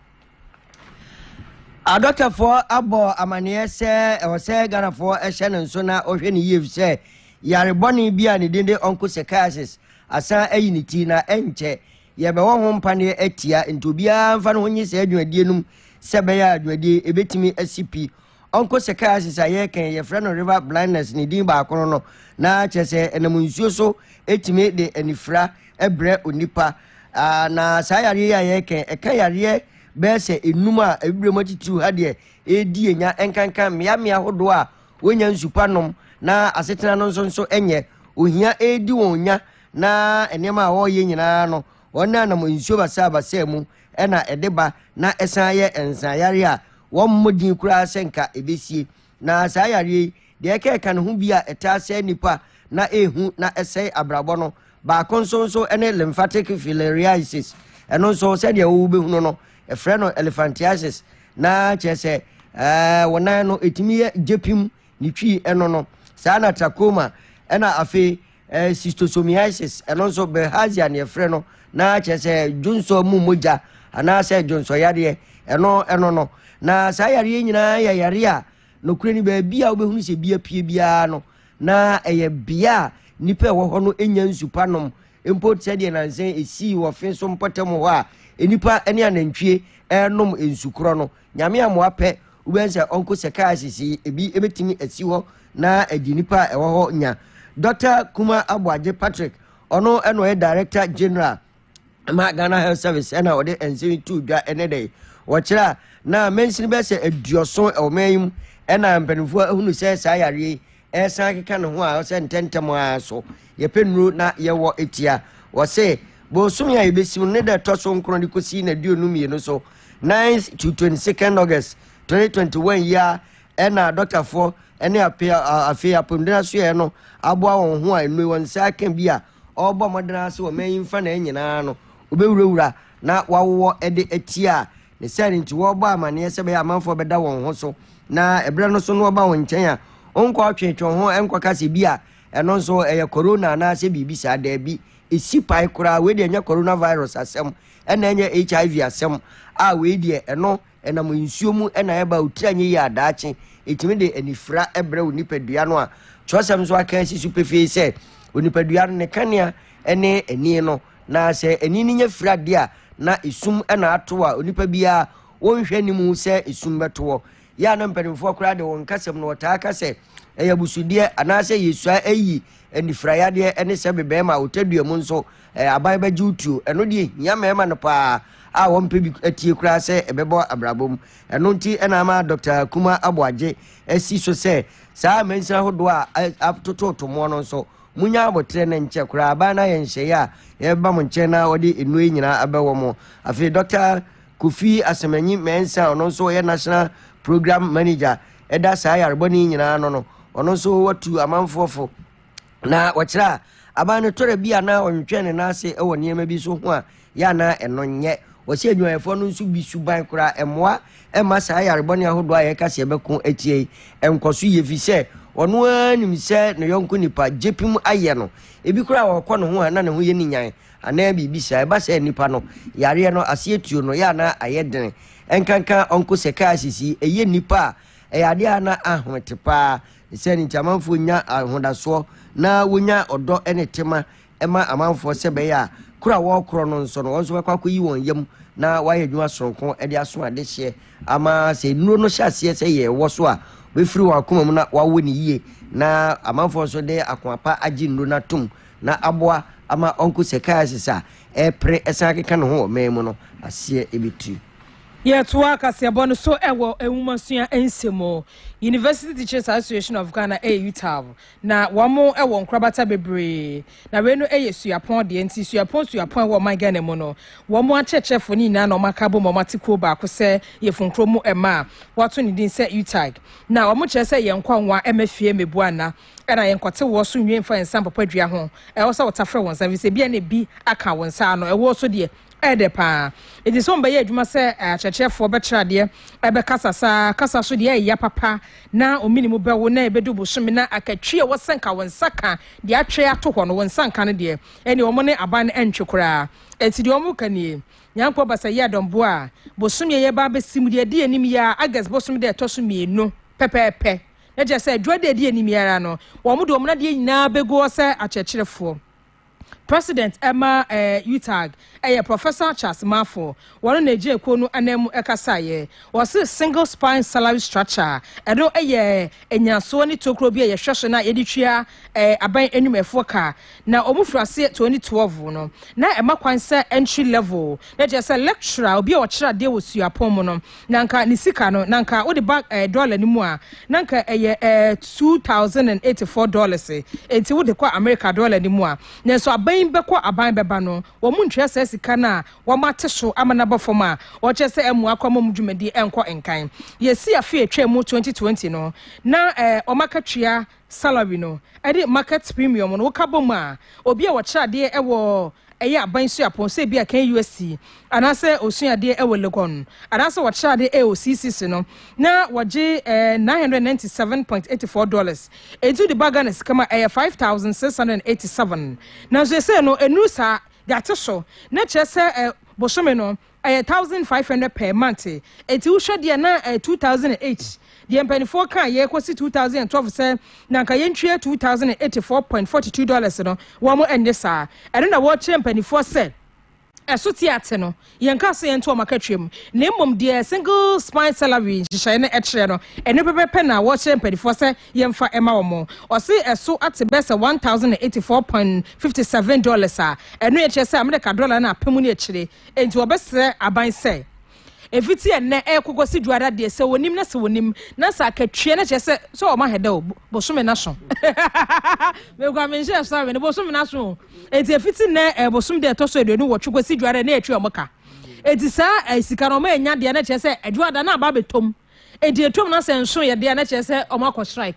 Adɔkɛfoɔ abɔ amaneɛ sɛ ɛwɔ sɛ Ghanafoɔ hyɛ no nso na ɔhwɛ no yie efisɛ yare bɔne bi a ne din de onchocerciasis asan ayi ne ti na ɛnkyɛ yɛbɛwɔ ho mpaneɛ atia nti obiara mfa ne ho nye saa dwumadie no mu sɛ ɛbɛyɛ a dwumadie yi ɛbɛtumi asi pi. Uncle Sekiasis a yɛreka yi, yɛfrɛ no river blindness, ne din baako no no, na kyerɛ sɛ ɛnam nsuo so tumi de anifira brɛ onipa. Ah, na saa yareɛ yi a yɛreka yi, ɛka yareɛ bɛyɛ sɛ enum a abibire mu atitiriw ha deɛ ɛredi enya, ɛnkanka mmeammea ahodoɔ a wɔnya nsu pa nom na asetena no nso nso nyɛ ohia ɛredi wɔn nya na nneɛma a wɔreyɛ nyinaa no Wɔnenam nsuo basabasa mu na ɛde ba na ɛsan yɛ nsaneyareɛ a wɔmmɔ din koraa sɛ nka ɛbɛsie. Na saa yareɛ yi, deɛ ɛka ɛka ne ho bi a ɛtaa sɛe nnipa na ɛhu na ɛsɛe abrabɔ no baako nso nso ne lymphatic filariasis. Ɛno nso sɛdeɛ wobɛhunu no, ɛfrɛ no elephantiasis na kyerɛ sɛ ɛɛ wo nan no ɛtumi yɛ gyepim ne twi ɛno no. Saa na trachoma ɛna afei Eh, schistosomiasis, ɛno nso bilharzia ne ɛfrɛ no na kyerɛ sɛ dwonsɔ mu mogya anaasɛ dwonsɔyadeɛ ɛno ɛno no na saa yareɛ nyinaa yɛ yareɛ a nokorɛ ni baabi a wobɛhunu sɛ bi apue biara no na ɛyɛ bea a nnipa ɛwɔ hɔ no nya nsu pa nom mpo sɛ deɛ nansa ɛsii wɔ fe so mpɔtam hɔ a nnipa ne anantwie ɛnom nsu korɔ no Nyame amoa pɛ wobɛhu sɛ Uncle Psychiatrist yi ebi bɛtumi asi hɔ na adi nipa a ɛwɔ hɔ nya. Dɔkta Kuma Aboagye Patrick, ɔno na ɔyɛ Director General ma Ghana Health Service ɛna ɔde nsɛm yi too dwa ɛnɛ da yi. Wɔkyerɛ a na mansini bɛyɛ sɛ aduɔson ɛwɔ man yi mu ɛna mpanimfoɔ ahunu sɛ saa yareɛ yi Ɛsan keka ne ho a ɔsɛ ntɛntɛm ara so yɛpɛ nnuro na yɛwɔ tia. Wɔse bosome a yɛbɛsi mu no ne da ɛtɔ so nkron de kɔsi na aduonu mmienu so, 9th to 22nd August 2021 yi ara ɛna adɔktafoɔ ne ape afei apɔmuden asoɛeɛ no aboa wɔn ho a nnuro wɔn nsa aka bi a ɔrebɔ mmɔden ara sɛ ɔman yi mfa na nyinaa no wɔbɛwurawura na wɔawowɔ de atia Ne saa nti wɔbɔ amanneɛ sɛ ɛbɛyɛ a amanfoɔ bɛda wɔn ho so na ɛberɛ no so no ɔba wɔn nkyɛn a, ɔnkɔ ɔtweetwe wɔn ho nkɔka sɛ bi a ɛno nso ɛyɛ corona anaasɛ biribi saa. Daabi, ɛsi pae koraa. Wei deɛ ɛnyɛ coronavirus asɛm, ɛna ɛnyɛ HIV asɛm a wei deɛ ɛno ɛnam nsuo mu ɛna ɛba otiri anyɛ yie a daakye ɛtumi de anifira ɛbrɛ wo nipadua no a kyerɛsɛm nso aka asi so pefee sɛ onipadua no ne kanea ɛne ani no Na sɛ ani no nya firi adeɛ a, na esum na ato a onipa biara wɔnhwɛ anim hu sɛ esum bɛto hɔ. Yɛ a na mpanimfoɔ koraa de wɔn kasam no wɔtaa ka sɛ ɛyɛ abusudeɛ anaasɛ yɛsua ayi anifiraeɛadeɛ ɛne sɛ me bɛrima a ɔtadua mu nso eh, aban bɛgye wo tuo. Ɛno deɛ hia mmarima no paa a wɔmpɛ bi atie koraa sɛ ɛbɛbɔ abrabɔ mu. Ɛno nti ɛna ama Dr. Kuma Aboagye asi so sɛ saa amansini ahodoɔ a atototomoɔ no nso Munya aboterɛ na nkyɛ koraa baa no ayɛ nhyɛeɛ a yɛbɛba mo nkyɛn na ɔde nnuro yi nyinaa abɛwɔ mo. Afei Dɔkta Kofi Asemanyi Mensah a ɔno nso ɔyɛ National Programme Manager da saa yarebɔne yi nyinaa ano no, ɔno nso watu amanfoɔ fo na ɔkyerɛ a aban no tɔrɛ bi a na ɔntwentwɛn ne nan ase wɔ nneɛma bi so ho a yɛ a na ɛno nyɛ ɔsɛ adwumayɛfoɔ no nso bi suban koraa ɛmmoa ɛmma saa yarebɔne ahodoɔ a yɛka sɛ yɛbɛko atia yi nkɔ so yɛ fi sɛ ɔno ara nim sɛ ne yɔnko nipa gyepim ayɛ no ebi koraa a ɔkɔ ne ho a na ne ho yɛ ne nyan anaa biribi saa ɛba sɛ nipa no yareɛ no aseɛ tuo no yɛ a na ayɛ dene ɛnkanka ɔnko sɛ kaa sisi ɛyɛ nipa a ɛyɛ adeɛ a na ahomete paa sɛ ne nti amanfoɔ nya ahodasoɔ na wɔnya ɔdɔ ne tema ma amanfoɔ sɛ ɛbɛyɛ a korɔ a wɔrekorɔ no nso no, wɔn nso bɛkɔ akɔyi wɔn yam na wɔayɛ adwuma soronko de aso adehyeɛ ama sɛ nnuro no hyɛ aseɛ sɛ yɛ wɔ so a wɔbɛfiri wɔn akoma mu na wɔawo ne yie na amanfoɔ nso de akoma pa agye nnuro no atom na aboa ama onchocerciasis a ɛrepere ɛsan akeka ne ho wɔ man mu no aseɛ ɛbɛtiri. Yɛtoa
kaseɛbɔ no so wɔ nwomasua nsɛm mu. University Teachers Association of Ghana, UTAG, Na wɔn wɔ nkorabata bebree. Na wei no yɛ suapɔn deɛ nti suapɔn suapɔn ɛwɔ ɔman Ghana mu no wɔn akyerɛkyerɛfoɔ no nyinaa na wɔn aka abom wɔn ate kuro baako sɛ yɛ Funkuro mu mma a wɔato ne din sɛ UTAG na wɔn kyerɛ sɛ yɛn nkɔ nwa mma fie mmɛbu anna ɛna yɛn nkɔte woɔ so nwie mfa yɛn nsa mpopa dua ho ɛwɔ sɛ wotafrɛ wo nsa fisɛ bia na ebi aka wo nsa ano ɛwoɔ so deɛ Ɛyɛ dɛ paa. Enti sɛ wɔbɛyɛ adwuma sɛ akyerɛkyerɛfoɔ bɛkyerɛ adeɛ, bɛkasa saa kasa so deɛ ɛyɛ ya papa na wo mene mu bɛwo na ɛbɛdu bosome na akatwie a ɛwɔ sɛ nka wo nsa ka deɛ atwe ato hɔ no wo nsa nka no deɛ, ɛnneɛ wɔn ne aban no ɛntwe koraa. Enti deɛ wɔreka nie, Nyankopɔn ba sɛ yɛ Adɔm Boa a, bosome a yɛreba abɛsi mu deɛ ɛdi anim yi ara, August bosome da a ɛtɔ so mmienu pɛpɛɛpɛ, na kyerɛ sɛ Adwuma da a ɛdi anim yi ara no, wɔn de wɔn adeɛ nyinaa bɛgu hɔ sɛ akyerɛkyerɛfoɔ. President ma UTAG yɛ Professor Charles Marfo, wɔno na egyina kuo no ananmu kasaeɛ. Wɔse Single Spine Salary Structure, ɛno yɛ nnyinasoɔ ne tokuro bi a yɛhwɛ so na yɛde tua aban nnwumayɛfoɔ ka. Na wɔn firi aseɛ 2012 no, na ɛma kwan sɛ entry level, na kyerɛ sɛ lecturer, obi a ɔkyerɛ adeɛ wɔ suapɔn mu no, Na nka ne sika no, na nka wode ba eh, dɔla no mu a, na nka ɛyɛ eh, two thousand and eighty four dollars. Enti wode kɔ Amerika dɔla no mu a. Nanso aban bɛkɔ aban bɛba no, wɔntua saa sika no a wɔate so ama no aba fam a wɔkyerɛ sɛ ɛmmoa kɔ ama wɔn dwumadi nkɔ nkan. Yɛsii afe a ɛtwaam mu twenty twenty no, na eh, wɔn akatua salary no, ɛde market premium no, woka bom a, obi a ɔkyerɛ adeɛ wɔ ɛyɛ aban suapɔn sɛ ebia kan UST anaasɛ osua adeɛ wɔ Legon anaasɛ wɔkyerɛ adeɛ wɔ CCC no na wɔgye eh, 997.84 dollars enti wode ba Ghana sika mu a ɛyɛ 5687 nanso ɛsɛ no ɛnuru saa de ate so na kyerɛ sɛ eh, bosome no Ɛyɛ thousand five hundred per month eti wohwɛ deɛ na ɛyɛ two thousand and eight deɛ mpanimfoɔ kaa yɛ kɔsi two thousand and twelve sɛ na nka yɛntwie two thousand and eighty four point forty two dollars no wɔn ɛnyɛ saa ɛno na wɔrekyerɛ mpanimfoɔ sɛ ɛso te ate no yɛn kaa sɛ yɛnto wɔn akatua mu na mmom deɛ single spine salary nhyehyɛe no ɛkyerɛ no ɛno pɛpɛpɛ na wɔrekyerɛ mpanimfoɔ sɛ yɛmfa ɛma wɔn ɔse ɛso ate bɛ sɛ one thousand and eighty four point fifty seven dollars a ɛno yɛkyerɛ sɛ Amerika dɔla no apem ne akyire Enti wɔbɛsrɛ aban sɛ, Ɛfiti ɛnnɛ ɛrekɔ kɔsi Dwoada deɛ, sɛ wɔnim na sɛ wɔnim, na sɛ akatua no kyerɛ sɛ, sɛ wɔma hɛdɛ o, bosome no aso. Mekura me nhyɛ sɔre no, bosome no aso o. Enti ɛfiti nnɛ ɛɛ bosome da ɛtɔ so aduonu nwɔtwe kɔsi Dwoada na yɛtua wɔn ka. Enti saa ɛɛ sika no wɔanya deɛ na kyerɛ sɛ, Dwoada no aba abɛtɔm. Enti ɛtɔm na sɛ nso yɛ deɛ a na kyerɛ sɛ wɔakɔ strike.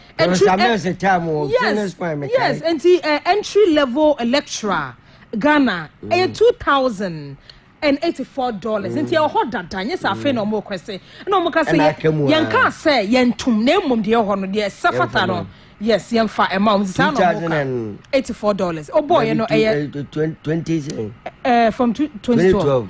Entry,
en, yes,
yes, nti uh, entry level lecturer Ghana ɛyɛ mm. two thousand and eighty four dollars nti mm. ɛwɔ dada nye sɛ afei na mm. wɔn request ɛna wɔn ka sɛ yɛn ka sɛ yɛn tum na emom deɛ ɛwɔ no deɛ ɛsɛ fata no yes yɛn fa ɛma wɔn sisan na wɔn ka eighty four dollars ɔbɔ yɛn no ɛyɛ twenty
ɛɛ from
twenty twelve.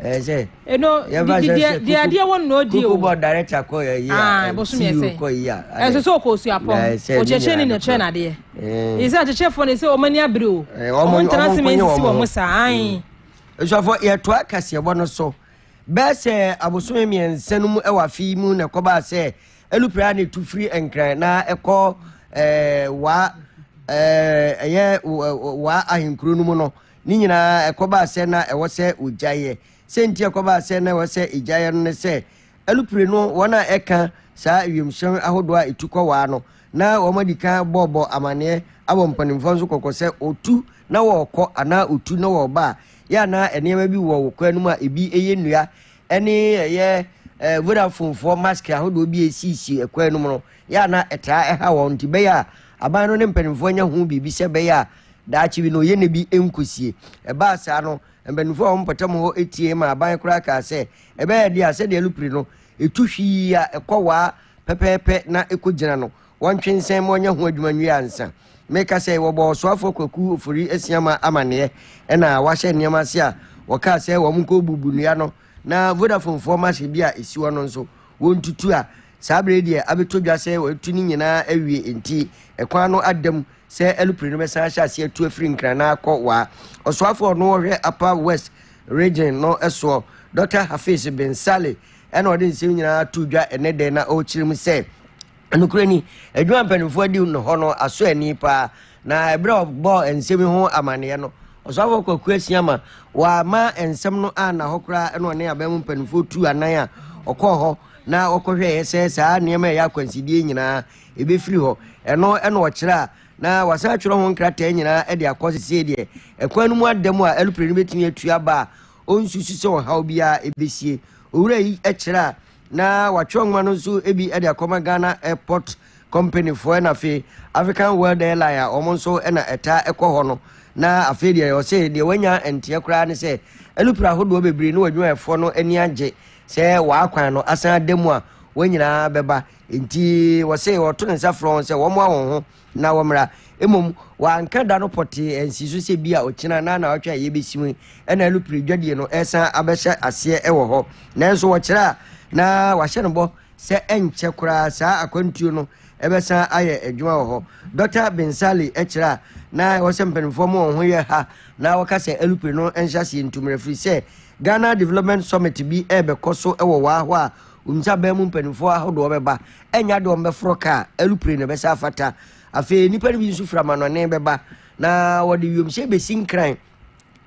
ɛɛ sɛ
ɛno yɛba sɛ
sɛ kuku deadeɛ wɔ nnɔɔ die o kuku bɔ director kɔ yɛ
yi a bosom yɛ sɛ kɔ yi
a ɛsɛ sɛ ɔkɔ osu apɔm ɔkyɛkyɛ ne nɛkyɛ nadeɛ ɛsɛ akyɛkyɛfoɔ ne sɛ ɔma ni abere o ɔmo ntena se me nsisi wɔ mo saa ae nsuafoɔ
yɛtoa kaseɛbɔ no so bɛɛ sɛ abosome mmiɛnsa no mu ɛwɔ afe mu na ɛkɔbaa sɛ ɛlupira ne tu firi nkran na ɛkɔ ɛɛ waa ɛɛ ɛyɛ waa ahenkuro no mu no Ne nyinaa ɛkɔbaa sɛ na ɛwɔ sɛ wɔgyaeɛ. Sɛ nti ɛkɔbaa sɛ na ɛwɔ sɛ ɛgyaeɛ no ne sɛ, alupire no wɔn a ɛka saa wiemhyɛn ahodoɔ a ɛtu kɔ waa no, na wɔn adi kan bɔɔbɔ amanneɛ abɔ mpanimfoɔ nso kɔkɔ sɛ wɔtu na wɔrekɔ anaa wɔtu na wɔreba a, yɛ a na nneɛma bi wɔ wo kwan no mu a ɛbi ɛyɛ nnua ɛne ɛyɛ eh, vodafonefoɔ mask ahodoɔ bi a ɛsiisi ɛkwan no mu no, yɛ a na ɛtaa ɛha wɔn nti bɛyɛ a aban no ne mpanimfoɔ anya ho biribi sɛ bɛyɛ a Daakye bi no, yɛne bi nkosie. Ɛbaa saa no, mpanimfoɔ a wɔn mpɔtam hɔ tiee ma aban koraa kaa sɛ, ɛbɛyɛ dea sɛdeɛ lupiri no, ɛtu hwii a ɛkɔ waa pɛpɛɛpɛ na ɛkɔgyina no, wɔntwe nsɛn ma ɔnyɛ ho adwuma nwie ansa. Meka sɛ, wɔbɔɔ Ɔsoafoɔ Kwaku Ofori Asiamah amanneɛ na wahyɛ nneɛma ase a, wɔkaa sɛ wɔnkɔbubu nnua no na Vodafonefoɔ machine bi a ɛsi hɔ no nso, wɔntutu a, saa berɛ yi deɛ abɛtɔ dwa sɛ wɔatu ne nyinaa awie enti, kwan no ada mu sɛ alupre no bɛsan ahyɛ aseɛ atu afiri Nkran na akɔ Waa. Ɔsoafoɔ a ɔno ɔhwɛ Upper West Region no soɔ, Dɔkta Hafiz Bin Saleh na ɔde nsɛm nyinaa too dwa ɛnɛ dɛ na ɔrekyerɛ mu sɛ, Nokorɛ ni, adwuma a mpanimfoɔ adi no hɔ no asɔ ani pa ara, na ɛberɛ a ɔbɔɔ nsɛm yi ho amanneɛ no, Ɔsoafoɔ Kwaku Asiama, wamma nsɛm no anna hɔ koraa na ɔne aban mu mpanimfoɔ tuu anan a ɔkɔɔ hɔ na ɔkɔhwɛeɛ sɛ saa nneɛma a ɛyɛ akwansideɛ yi nyinaa ɛbɛfiri hɔ. Ɛno na ɔkyerɛ a na wasan atwerɛ ho nkrataa nyinaa de akɔ sesei deɛ ɛkwan no mu ada mu a ɛlopere no bɛtumi atu aba a ɔnsusu sɛ ɔhaw biara ɛbɛsie. Owura yi kyerɛ a na watwerɛ nwoma no nso bi de akɔma Ghana Airport Company foɔ na afei African World Airline a wɔn nso na ɛtaa ɛkɔ hɔ no na afei deɛ ɔse deɛ wanya nteɛ koraa ne sɛ ɛlopere ahodoɔ bebree ne wadwumayɛfoɔ no ani agye sɛ wɔakwan no asan ada mu a wɔn nyinaa bɛba Enti wɔse wɔto ne nsa frɛ wɔn sɛ wɔmmoa wɔn ho na wɔmmra. Mmom, wanka da no pɔtee ansi so sɛ bi a ɔkyena na naawɔtwe a yɛbɛsi mu yi na alupere dwadie no resan abɛhyɛ aseɛ wɔ hɔ. Nanso wɔkyerɛ a na wahyɛ no bɔ sɛ ɛnkyɛ koraa saa akwantuo no bɛsan ayɛ adwuma wɔ hɔ. Dɔkta Bensali kyerɛ a na ɛwɔ sɛ mpanimfoɔ ma wɔn ho yɛ ha na wɔka sɛ alupere no nhyɛaseɛ ntu mmra ɛfiri sɛ Ghana Development Summit bi rebɛkɔ so wɔ waa hɔ a Wonim sɛ aban mu mpanimfoɔ ahodoɔ bɛba, ɛnyɛ adeɛ a wɔbɛforɔ kaa, aeroplane na ɛbɛsa afata. Afei nnipa no bi nso firi amanɔne bɛba, na wɔde wiemhyɛn bɛsi nkran,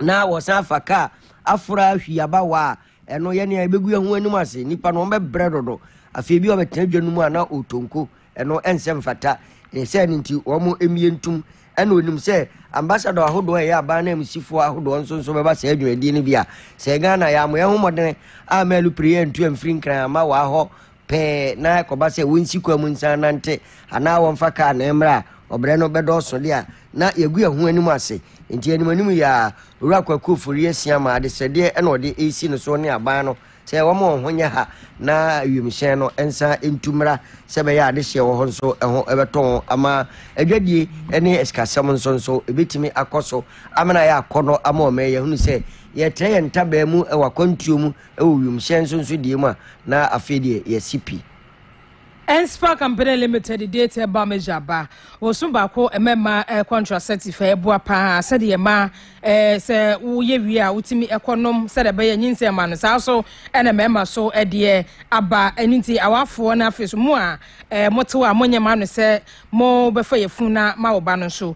na wɔsan afa kaa afora ahwi aba hɔ a, ɛno yɛne a yɛbɛgu yɛn ho anim ase. Nnipa no wɔbɛbrɛ dodo. Afei bi a wɔbɛtena dwa no mu a na ɔtonko Ɛno ɛnsɛ mfata. Ɛyɛ sɛ ɛno nti wɔn mmie ntom. Ɛna onim sɛ ambassador ahodoɔ a ɛyɛ aban ananmusifoɔ ahodoɔ nso nso bɛba saa dwumadie no bi a, sɛ Ghana yɛ a mo yɛ ho mmɔdene a mɛlu pere antu amfiri nkran amma waa hɔ pɛɛ na ɛkɔba sɛ wɔnsi kwan mu nsan nante anaa wɔmfa kaa na ɛmmra a, ɔbrɛ no bɛdɔɔso de a na yɛagu yɛn ho anim ase. Nti anim anim yi ara, Owura Kwaku Ofori Asiamah adesrɛdeɛ na ɔde resi no soɔ ne aban no Sɛ wɔma wɔn ho nyɛ ha na wiemhyɛn no nsan ntu mmra sɛ ɛbɛyɛ a adehyeɛ wɔ hɔ nso ɛho bɛtɔ wɔn ama adwadie ne asikasɛm nso nso ɛbɛtumi akɔ so amena ayɛ akɔnnɔ ama wɔn ɛyɛ hunu sɛ yɛtrɛ yɛn ntabaa mu wɔ akwantuo mu wɔ wiemhyɛn nso nso deɛ mu a na afei deɛ yɛasi pi Enspar
Company Limited de te ba measure ba wɔso baako ɛma ɛma eh, contraceptive eh, ɛboa paa sɛdeɛ ɛma eh, sɛ woyɛ wie a wotumi ɛkɔ nom sɛdeɛ ɛbɛyɛ nyinsɛn ma no saa so ɛna mmarima so ɛdeɛ aba ɛno nti awafoɔ no afei so mo a eh, motew a monyɛ ma no sɛ mobɛfa yɛ funu na ma wo ba no nso